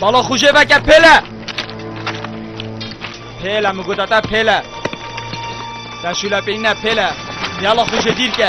Bala xuje veke pêle. Pêle mi gote te pêle. Te şule peyne pêle. Yala xuje dîr ke.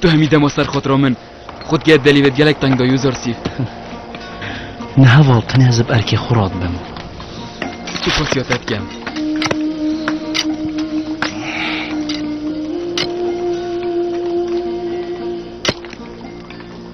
Tu hemî dema ser xotira min xut ged delî vêt gelek teng da yû zor sîf. Ne heval tenê ez bi erkê xwe re dibim. Tu pasya te dikem.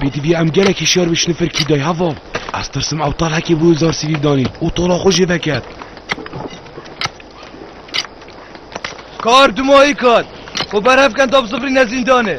Bêdî bî em gelekî şer bi şnifir kî day heva. Ez tirsim ew tal hekê bû zar sivî danî û tola xwe jê veket. Kar dumayî kar. Xwe berhev ken da bi zifrîne zîndanê.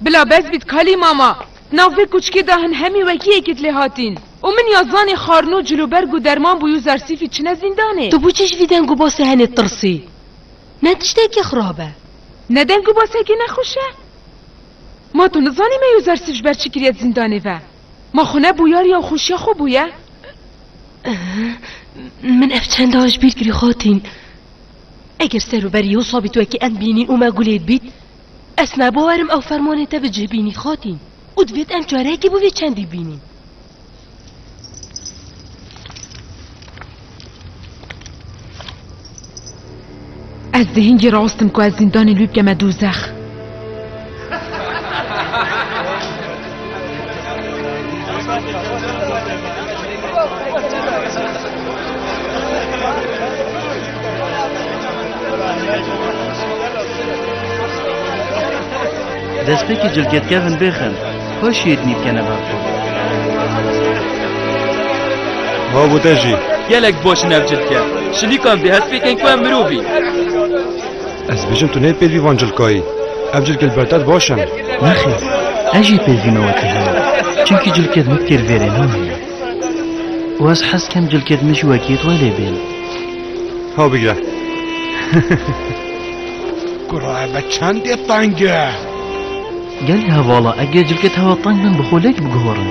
Bila bes bît kalî mama, di nav vê kuçikê de hin hemî wekî yê kit lê hatîn û min ya zanî xarnû, cilûberg û derman bûyû Zersîfî çine zîndanê. Tu bûçe ji vî deng û basê henê tirsî? Ne tiştekî xirab e. Ne deng û basekî nexweş e? Ma tu nizanî me û Zersîf ji ber çi kiriye di zîndanê ve? Ma xwe ne bûyariya û xweşiya xwe bûye? Min ev çend a ji bîr kirî hatîn. Eger ser û berî wisa bî tu wekî em bînî û me gulê dibît, ez nabawar im ew fermanê te bi cih bînî xatîn û divêt em çareyekê bo vê çendî bînîn. Ez dê hingî rast im ku ez zîndanê li wî bike me dozex. Destpêkî cilkêtkevin bêxin, xwe şêrînî bikene ber xwe. Ma bu te jî. Gelek baş in ev cilke. Şilîkan bê hespê ken ku em mirov in. Ez dibêjim tu nê pêlvî van cilkayî. Ev cilkê li ber te baş in. Nexir, ez jî pêlvî me wekî heye. Çimkî cilkê din têr vêrê nan heye. Û ez hez dikim cilkê din jî wekî te lê bên. Ha bigire. Kura me çendê teng e. Gelê hevala eger cilkê te hewa teng bin bi xwe lek biguhorin.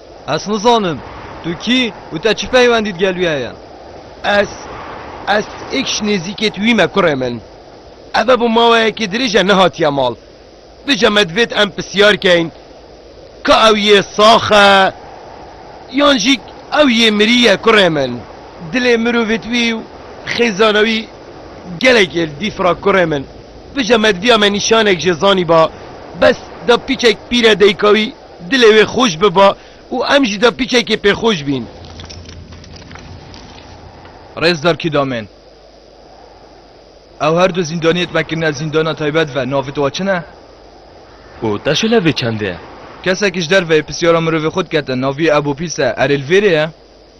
Ez nizanim tu kî û te çi peywendît gel wî heye? Ez, ez êkş nêzîkê tu wî me kurê min. Eve bo maweyekê dirêj e nehatiye mal. Bije me divêt em pisyar keyn ka ew yê sax e yan jî ew yê mirî ye kurê min. Dilê mirovê tu wî û xêzana wî gelekê li dîf ra kurê min. Bije me di viya me nîşanek jê zanîba bes da pîçek pîre deyka wî. Dilê wê xweş biba û em jî da piçekê pêxweş bîn. Rêzdar Kîdamên, Ew her du zîndaniyê di me kirine zîndana taybet ve, navê te wa çi ne? Û te şelevê çendê ye? Kesekî ji derveyê pisyara mirovê xwe dikete, navê wî Ebû Pîs e, erê li vêrê ye?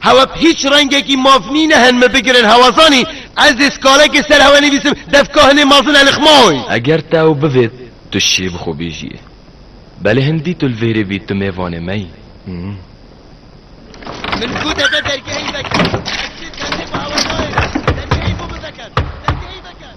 Hewa bi hîç rengekî mav nîn e hen min bigirin hewa zanî ez dê skalekê ser hewa nivîsim devka hinê mezin elixmaoy. Eger tew bivêt tu şê bi xwe bêjiyê. Belê hin dî tu li vêrê bî tu mêvanê me yî. Min ku deve dergehî veke ez şê dergê bi hewa nayêrim. Dergehî bo biveket. Dergehî veket.